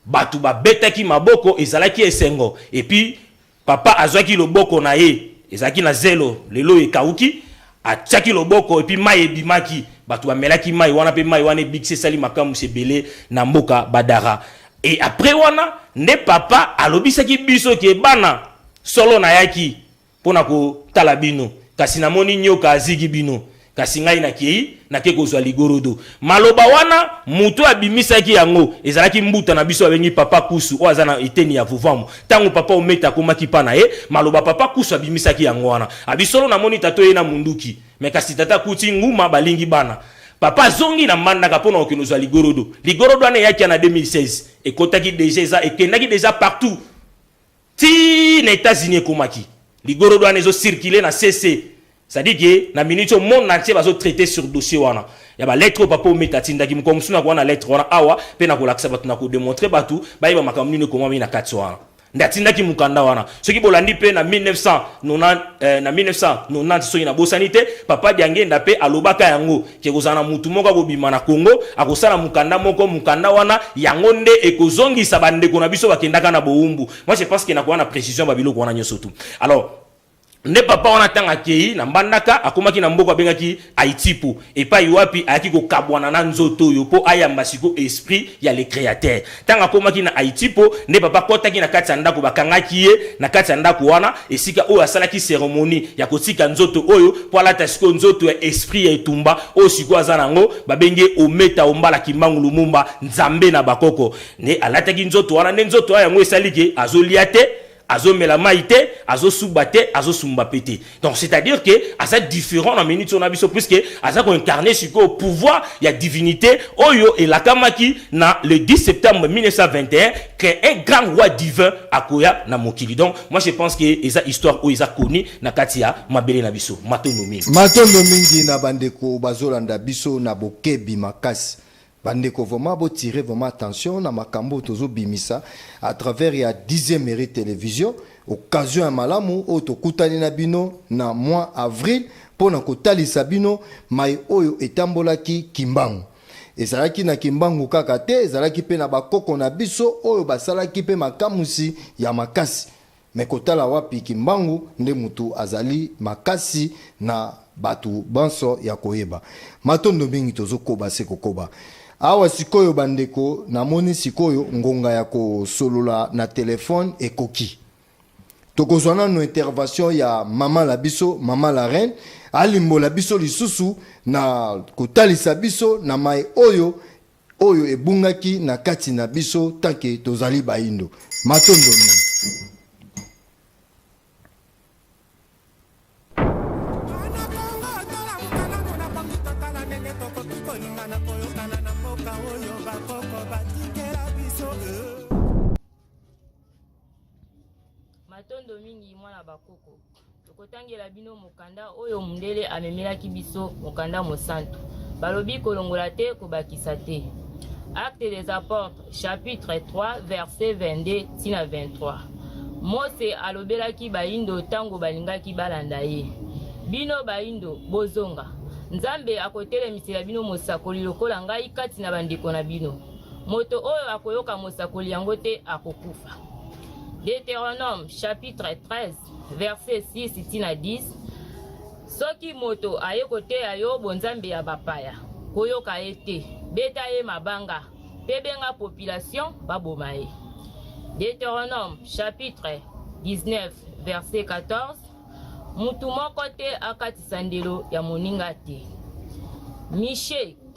Batu ba betaki maboko ezalaki esengo et puis papa azuaki loboko na ye ezalaki na zelo lelo oyo ekawuki atiaki loboko et puis mayi ebimaki batu ba melaki mayi wana pe mayi wana ebikisi esali makambusu ebele na mboka Badara et après wana nde papa alobisaki biso ke bana solo nayaki mpo na kotala bino, kasi namoni nyoka azigi bino, kasi ngai nakei, nakei kozwa ligorodo. Maloba wana, moto oyo abimisaki yango, ezalaki mbuta na biso babengi Papa Kusu, oyo aza na eteni ya Vuvamu. Ntango Papa Ometa akomaki epai na ye, maloba Papa Kusu abimisaki yango wana. Abi, Solo namoni tata oye na munduki, mais kasi tata akuti Nguma, balingi bana. Papa azongi na Mbandaka mpo na kokende kozwa ligorodo. Ligorodo wana eyaki ya na 2016. Ekotaki dejà, eza, ekendaki dejà partout. Ti na etats unis ekomaki ligorodo wana ezo circuler na CC ça dit que na minute au monde entier bazo traiter sur dossier wana ya ba lettre papa ometa tindaki mukwa musu na kwana lettre wana awa pe na kolakisa batu na ko demontrer batu bayeba makambo nini ekomami na kati wana nde atindaki mukanda wana soki bolandi pe na 1990 euh, na 1990 soki na bosani te papa diangenda pe alobaka yango Ekozala na motu moko akobima na Congo, akosala mokanda moko, mokanda wana yango nde ekozongisa ba ndeko na biso bakendaka na bowumbu. Moi je pense que nakoya na precision ba biloko wana nyoso tout. Alors, nde papa wana ntango akei na mbandaka akomaki na mboka abengaki aitipu epai wapi ayaki kokabwana na nzoto oyo mpo ayamba siko esprit ya le créateur Ntango akomaki na Haïti mpo nde papa akotaki na kati ya ndako, bakangaki ye na kati ya ndako wana, esika oyo asalaki ceremonie ya kotika nzoto oyo mpo alata sikoyo nzoto ya esprit ya etumba oyo sikoyo aza na yango, babengi ye Ometa Ombala Kimbangu Lumumba, Nzambe na bakoko. Nde alataki nzoto wana, nde nzoto wana yango esali que azolia te, azomela mai te azosuba te azosumba mpe te donc c'est à dire que aza différent na minute oyo na biso puisque aza koincarne sikoyo pouvoir ya divinité oyo elakamaki na le 10 septembre 1921 que un grand roi divin akoya na mokili donc moi je pense que eza histoire oyo eza connue na kati ya mabele na biso matondo mingi matondo mingi na bandeko bazolanda biso na bokebi makasi Ba ndeko vraiment bo tirer vraiment attention na makambo oyo tozo bimisa à travers ya dixième mairie television occasion ya malamu oyo tokutani na bino na mois avril mpo na kotalisa bino mai oyo etambolaki kimbangu ezalaki na kimbangu kaka te ezalaki mpe na bakoko na biso oyo basalaki mpe makamusi ya makasi Mais kotala wapi kimbangu nde mutu azali makasi na batu banso ya koyeba matondo mingi tozo koba se kokoba awa sikoyo ba ndeko na moni sikoyo ngonga ya ko solola na telephone ekoki toko zwa nanu intervention ya maman la biso maman la reine alimbola biso lisusu na kotalisa biso na maye oyo oyo ebungaki na kati na biso tanke tozali baindo matondo mingi matondo mingi mwana bakoko Tokotangela bino mokanda oyo mundele amemelaki biso, mokanda mosantu. Balobi kolongola te, kobakisa te. Acte des Apôtres, chapitre 3, verset 22 ti na 23. Mose alobelaki baindo ntango balingaki balanda ye. Bino baindo, bozonga. Nzambe akotelemisela bino mosakoli lokola ngai kati na bandeko na bino. Moto oyo akoyoka mosakoli yango te akokufa. Deuteronome chapitre 13 verse 6 ti na 10 soki moto aye koteya yo bonzambe ya bapaya koyoka ye te beta ye mabanga mpe benga population baboma ye deuteronome chapitre 19 verse 14 motu moko te akatisa ndelo ya moninga te mishe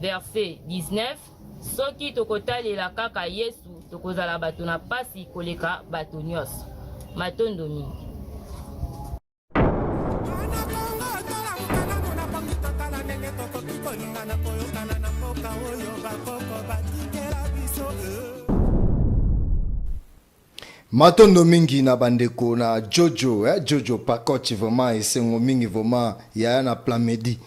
Verse 19 Soki tokotalela kaka Yesu, tokozala bato na pasi koleka bato nyonso. Matondo mingi. Matondo mingi na bandeko na Jojo eh, Jojo Pakoch vraiment esengo mingi vraiment yaya na Plamedi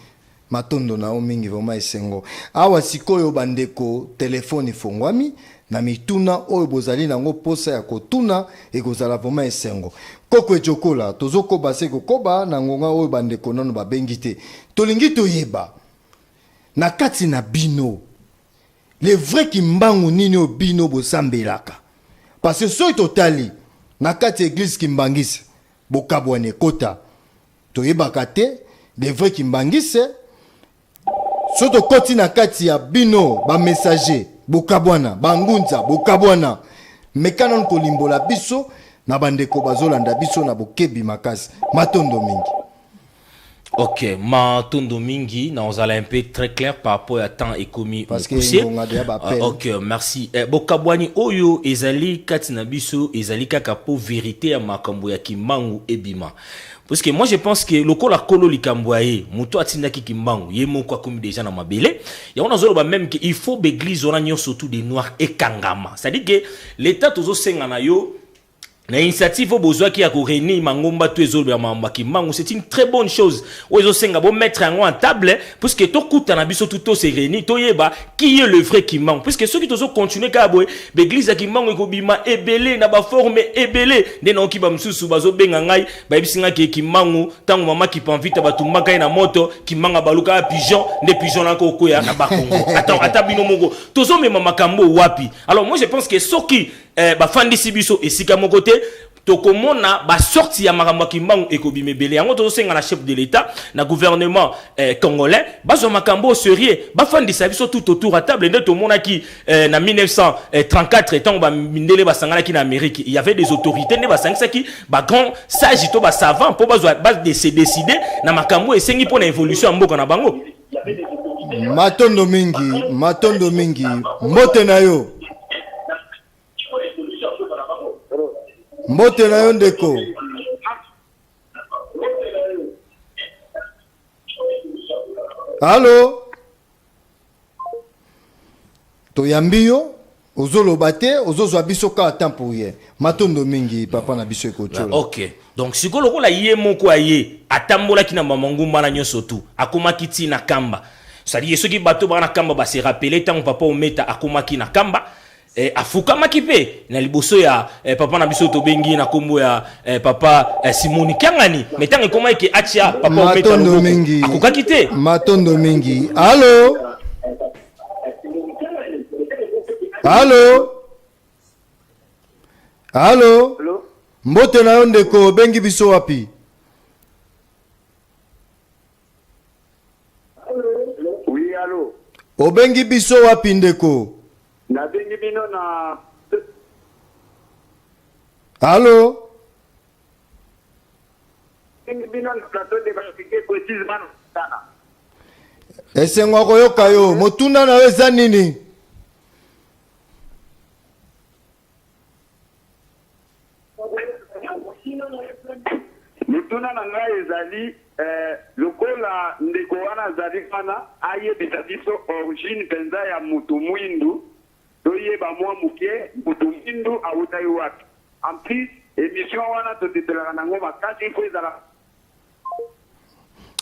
matondo na yo mingi vraiment esengo. Awa sikoyo bandeko telefone ifongwami na mituna oyo bozali nango posa ya kotuna ekozala vraiment esengo. Koko Ejokola tozokoba se kokoba na ngonga oyo bandeko nano babengi te, tolingi toyeba na kati na bino le vrai kimbangu nini oyo bino bosambelaka parce que soki totali na kati ya eglise kimbangise bokabwana ekota toyebaka te le vrai kimbangise soki tokoti na kati ya bino bamessager bokabwana bangunza bokabwana meka nanu kolimbola biso na bandeko bazolanda biso na bokebi makasi matondo mingi Ok, ma tondo mingi, na ozala un peu très clair par rapport à temps écomi Parce que mokuse. ngonga deya ba Ah, appel. ok, merci. Eh, bokabwani oyo ezali kati na biso ezali kaka po verite ya makambo ya kimbangu ebima. Parce que moi je pense que lokola kolo likambo ya ye, moto atindaki kimbangu, ye moko akomi déjà na mabele. Yango nazoloba même que il faut beglise wana nyonso tout de noir ekangama. C'est-à-dire que l'état tozosenga na yo na initiative oyo bozwaki ya korenir mangomba to ezolobela makambo ya kimbangu c'est une très bonne chose oyo ezosenga bomettre yango en table puisque tokutana biso tu tose réunir toyeba qui est le vrai kimbangu puisque soki tozocontinue kaka boye baeglise ya kimbangu ekobima ebele na baforme ebele nde naoki bamosusu bazobenga ngai bayebisi ngai ke kimbangu ntango mama kipanvita batumbaka ye na moto kimbangu abalukaka pigeon nde pigeon nako okwea na bakongo ata, ata bino moko tozomema makambo wapi alors moi je pense que soki eh, bafandisi biso esika moko te tokomona basorti ya makambo ya kimbangu ekobima ebele yango tozosenga na chef de l'état na gouvernement eh, congolais bazwa makambo serieux bafandisa biso tout autour ya table nde tomonaki eh, na 1934 ntango bamindele basanganaki na amérique il y avait des autorités nde basangisaki bagrand sage to basavant mpo se décide na makambo esengi mpo na évolution ya mboka na bango Matondo mingi, matondo mingi. Mbote na yo. Mbote na yo ndeko. Allô? Toyambi yo. ozoloba te ozozwa biso kaka temps pour rien matondo mingi papa na biso ekotiola ok donc sikoyo lokola ye moko aye atambolaki na bamangumba na nyonso tu akomaki ti na kamba sadie soki bato baa na kamba base rappele ntango papa ometa akomaki na kamba eh, afukamaki mpe na liboso ya eh, papa na biso tobengi na nkombo ya eh, papa eh, simoni kiangani me ntango ekomaki ke atia papa ometa matondo loboko mingi akokaki te matondo mingi alo Halo. Halo. Mbote na yo ndeko, obengi biso wapi? Oui, halo. Obengi biso wapi ndeko? Nabengi bino na Halo. Esengo ya koyoka yo. Motuna na yo eza nini? Motuna na ngai ezali eh, lokola ndeko wana azali wana ayebisa biso origine mpenza ya moto mwindu Toyeba mwa moke moto mwindu awutaki wapi. En plus, emission wana tosepelaka na yango makasi, il faut ezala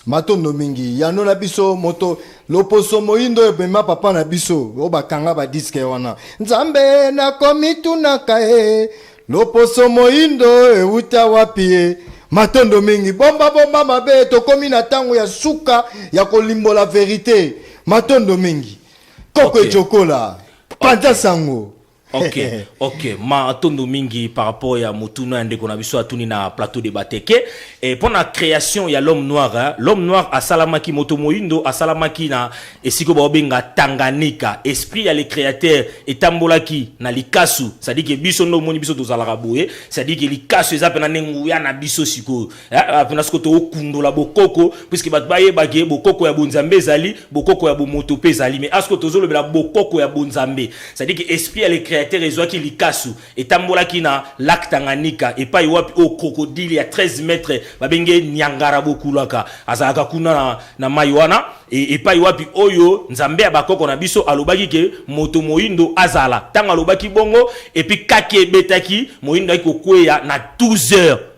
matondo mingi yano na biso moto loposo moyindo oyo ebema papa na biso oyo bakanga badiske wana nzambe nakomitunaka e loposo moyindo oyo ewuta wapi e matondo mingi bomba bomba mabe tokomi na ntango ya suka ya kolimbola verite matondo mingi koko ecokola panza sango ok ok matondo mingi par rapport ya motuna ya ndeko na biso atuni na plateau de bateke e mpo na création ya l'homme noir hein? l'homme noir asalamaki moto moyindo asalamaki na esika baobenga tanganyika esprit ya le créateur etambolaki na likasu sadike biso nde omoni biso tozalaka boye sadike likasu eza mpena nde nguya na biso sikoyo Kuna sikoyo tokundola bokoko puisque bato bayeba ke bokoko ya bonzambe ezali bokoko ya bomoto mpe ezali mais asko tozolobela bokoko ya bonzambe c'est-à-dire que esprit ya le créateur ezwaki likasu etambolaki na lac Tanganyika epai wapi oyo crocodile ya 13 mètres babenge Niangara Bokulaka azalaka kuna na, na mai wana e, epai wapi oyo nzambe ya bakoko na biso alobaki ke moto moindo azala ntango alobaki bongo epi kake ebetaki moindo ayaki kokweya na 12 heures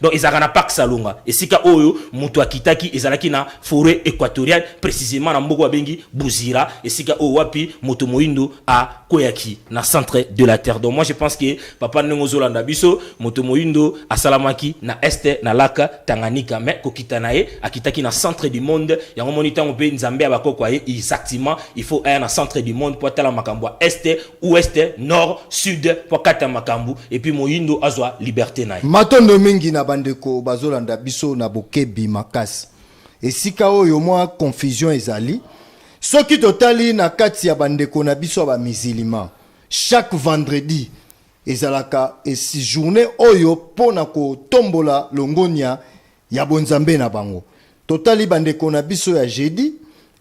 Donc ezalaka na parc Salonga, esika oyo mutu akitaki ezalaki na foret equatoriale precisement na mboko abengi Buzira, esika oyo wapi moto moindo a kweyaki na centre de la terre. Donc moi je pense que papa ndenge ozolanda biso moto moindo asalamaki na est na lac Tanganyika mais kokita na ye akitaki na centre du monde yango moni tango pe Nzambe ya bakoko aye exactement il faut aya na centre du monde po atala makambo ya est ouest nord sud po akata makambu epuis moyindo azwa liberte na ye. Matondo mingi na bandeko bazolanda biso na bokebi makasi. Esika oyo mwa confusion ezali, soki totali na kati ya bandeko na biso ya ba musulmans, chaque vendredi ezalaka esi journee oyo mpo na kotombola longonya ya bonzambe na bango totali bandeko na biso ya jeudi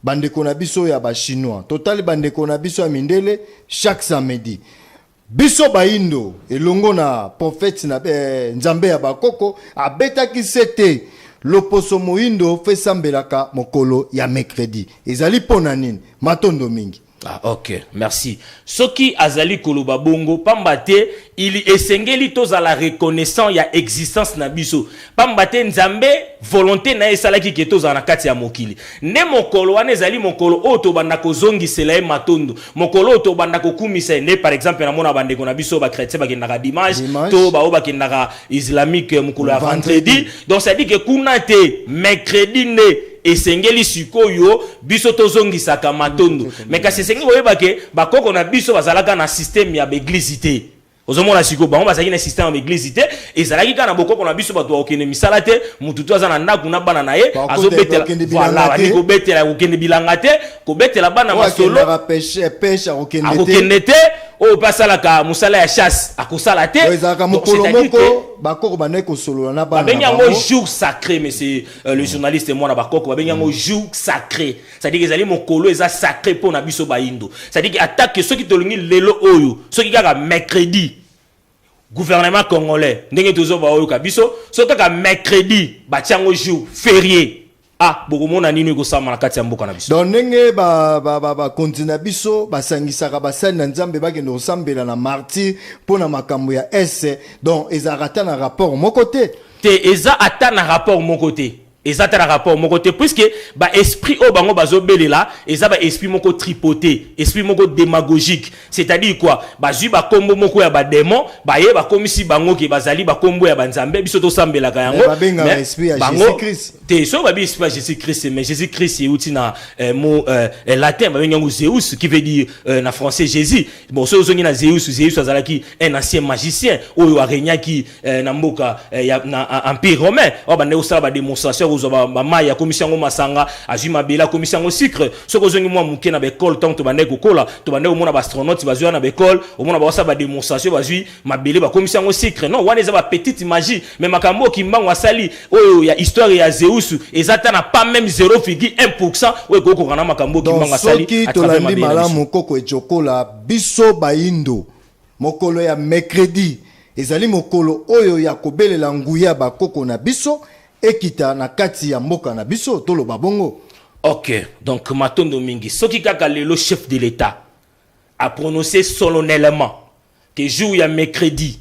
bandeko na biso ya bachinois totali bandeko na biso ya mindele chaque samedi biso baindo elongo na profete na eh, nzambe ya bakoko abetaki se te loposo moindo fesambelaka mokolo ya mercredi ezali mpo na nini matondo mingi Ah, ok merci soki azali koloba bongo pamba te ili esengeli tozala reconnaissant ya existence na biso pamba te nzambe volonté na ye esalaki ke tozala na kati ya mokili nde mokolo wana ezali mokolo oyo tobanda kozongisela ye matondo mokolo oyo tobanda kokumisa ye nde par exemple namona bandeko na biso bachrétien bakendaka dimanche to baoyo bakendaka islamique mokolo ya vendredi donc cestadi ke kuna te mercredi nde Esengeli sikoyo biso tozongisaka matondo mais kasi esengeli koyeba ke bakoko na biso bazalaka na systeme ya baeglize te ozomona sikoyo bango bazalaki na systeme ya baeglize te ezalaki kaka na bokoko na biso bato bakokende misala te motu to aza na ndako na bana na ye azobetela voilà bandi kobetela kokende bilanga te kobetela bana masolo akokende te oyo mpe asalaka mosala ya chasse akosala te ezalaka mokolo moko bakoko bandaki kosolola na bana babengi yango jour sacré monsieur Euh, le journaliste mwana bakoko babengi yango jour sacré cestadire ezali mokolo eza sacré mpo na biso bayindo cestadire atake soki tolingi lelo oyo soki kaka mercredi gouvernement congolais ndenge tozo baoyoka biso soki kaka mercredi batya yango jour ferie ah bokomona nini ekosama na kati ya mboka na biso donc ndenge bakonzi ba, ba, ba na biso basangisaka basali na nzambe bakende kosambela na martir mpo na makambo ya ese donc ezalaka ata na rapport moko te Te eza ata na rapport moko te. Eza ata na rapport moko te puisque ba esprit oyo bango bazo belela eza ba esprit moko tripote, esprit moko demagogique. C'est-à-dire quoi? Bazui ba kombo moko ya ba demon baye ba komisi bango ke bazali ba kombo ya ba nzambe biso to sambelaka yango. Mais ba benga ba esprit ya Jesus Christ. Te soki ba bi esprit ya Jesus Christ mais Jesus Christ euti na eh, mot eh, eh, latin ba benga yango Zeus qui veut dire eh, na français Jésus. Bon soki ozongi na Zeus, Zeus azalaki un ancien magicien oyo aregnaki Eh, na mboka eh, ya, na ah, empire romain oyo bandaki kosala bademonstration ya kozwa bamai akomisi yango masanga azwi mabele akomisi yango sucre soki ozongi mwa moke na baekole ntango tobandaki kokola tobandaki komona baastronaute bazwi wana na baekole omona bakosala bademonstration bazwi mabele bakomisi yango sucre non wana eza bapetite magie mai makambo oyo kimbango asali oyo ya histoire ya zeus eza ata na pas meme 0 figi 1 pourcent oyo ekoki kokokana makambo oyo kimbango asali soki tolandi malamu koko ecokola biso baindo Mokolo ya mecredi ezali mokolo oyo ya kobelela nguya ya bakoko na biso ekita na kati ya mboka na biso, toloba bongo. Ok, donc matondo mingi. Soki kaka lelo chef de l'Etat a prononcer solennellement que jour ya mecredi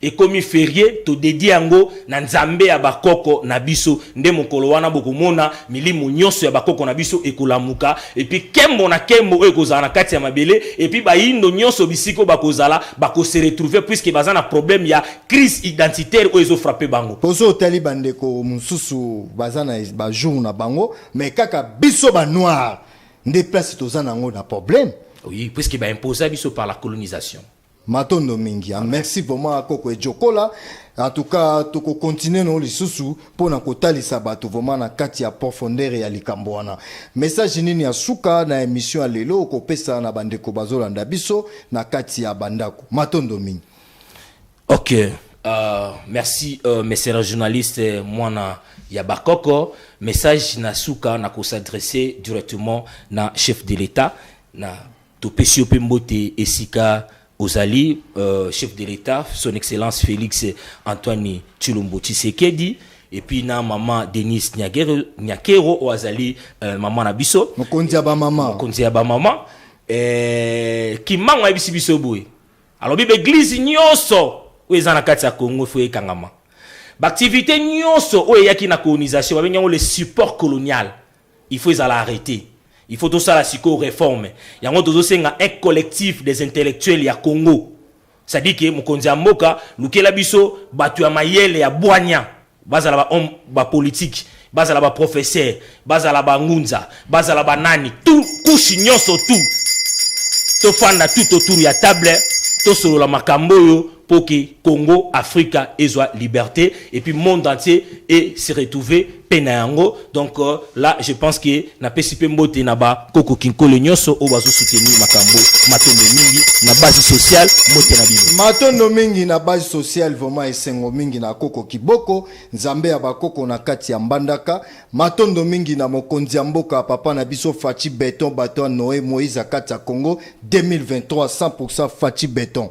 Ekomi ferie to dedie yango na nzambe ya ba koko na biso nde mokolo wana bokomona milimo nyoso ya ba koko na biso ekolamuka epuis kembo na kembo oyo ekozala na kati ya mabele epuis bayindo nyoso bisika oyo bakozala bako se retrouver puisque baza na probleme ya crise identitaire oyo ezo frapper bango. Ozo otali ba ndeko mususu baza na ba jours na bango mais kaka biso ba noirs nde place toza na yango na probleme. Oui puisque ba imposa biso par la colonisation. matondo mingi ya ah, merci vraiment koko ejokola en tout cas tokokontinue nango lisusu mpo na kotalisa bato vraiment na kati ya profondeur ya likambo wana message nini ya suka na émission ya lelo okopesa na bandeko bazolanda biso na kati ya bandako matondo mingi ok uh, merci uh, euh, mesera journaliste euh, mwana ya bakoko message na suka na kosadresse directement na chef de l'état na Topesi yo pe mbote esika ozali euh, chef de l'État son excellence Félix Antoine Tshilombo Tshisekedi et puis na maman Denise Nyakero Nyakero oyo azali euh, maman na biso mokonzi ya ba maman mokonzi ya ba maman euh, kimbangu ayebisi biso boye alobi ba eglise nyonso oyo eza na kati ya Congo faut ekangama baaktivité nyonso oyo eyaki na colonisation babengi yango le support colonial Il faut ezala arrete. Il faut tosala sikoyo reforme. Yango tozo senga un collectif des intellectuels ya Congo. C'est à dire que mokonzi ya mboka lukela biso batu ya mayele ya bwanya bazala ba homme ba politique bazala ba professeur bazala ba ngunza bazala ba nani tout couche nyoso tout tofanda tout autour ya table tosolola makambo oyo po que Congo Africa ezua liberte et puis monde entier e se retrouver pe na yango donc euh, là je pense que na pesi pe mbote na ba koko kinkole nyoso o bazo soutenir makambo matondo mingi na base sociale mbote na bino matondo mingi na base sociale vraiment esengo mingi na koko kiboko nzambe ya bakoko na kati ya mbandaka Matondo mingi na mokonzi ya mboka papa na biso Fatshi Beton bato ya Noe Moïse akati ya Congo 2023 100% Fatshi Beton.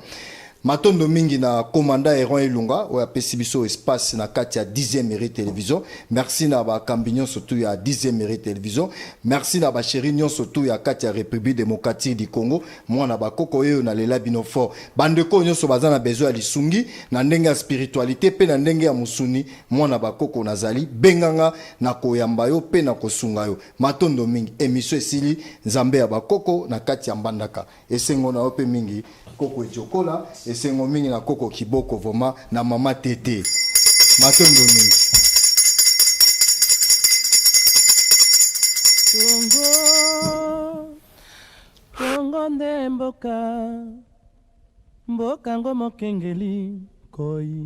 Matondo mingi na commandant Eron Elunga oyo apesi biso espace na kati ya 10e mairie television. Merci na ba kambi nyonso tu ya 10e mairie television. Merci na ba chéri nyonso tu ya kati ya République démocratique du Congo. Mwana ba koko yeyo na lela bino fort. Bande ko nyonso baza na besoin ya lisungi na ndenge ya spiritualité pe na ndenge ya musuni Mwana ba koko na zali benga nga na koyamba yo pe na kosunga yo matondo mingi emission esili nzambe ya ba koko na kati ya mbandaka esengo na yo pe mingi koko ejokola esengo mingi na koko kiboko voma na mama tete matondo mingi Congo, Congo nde mboka mboka ngo mokengeli koi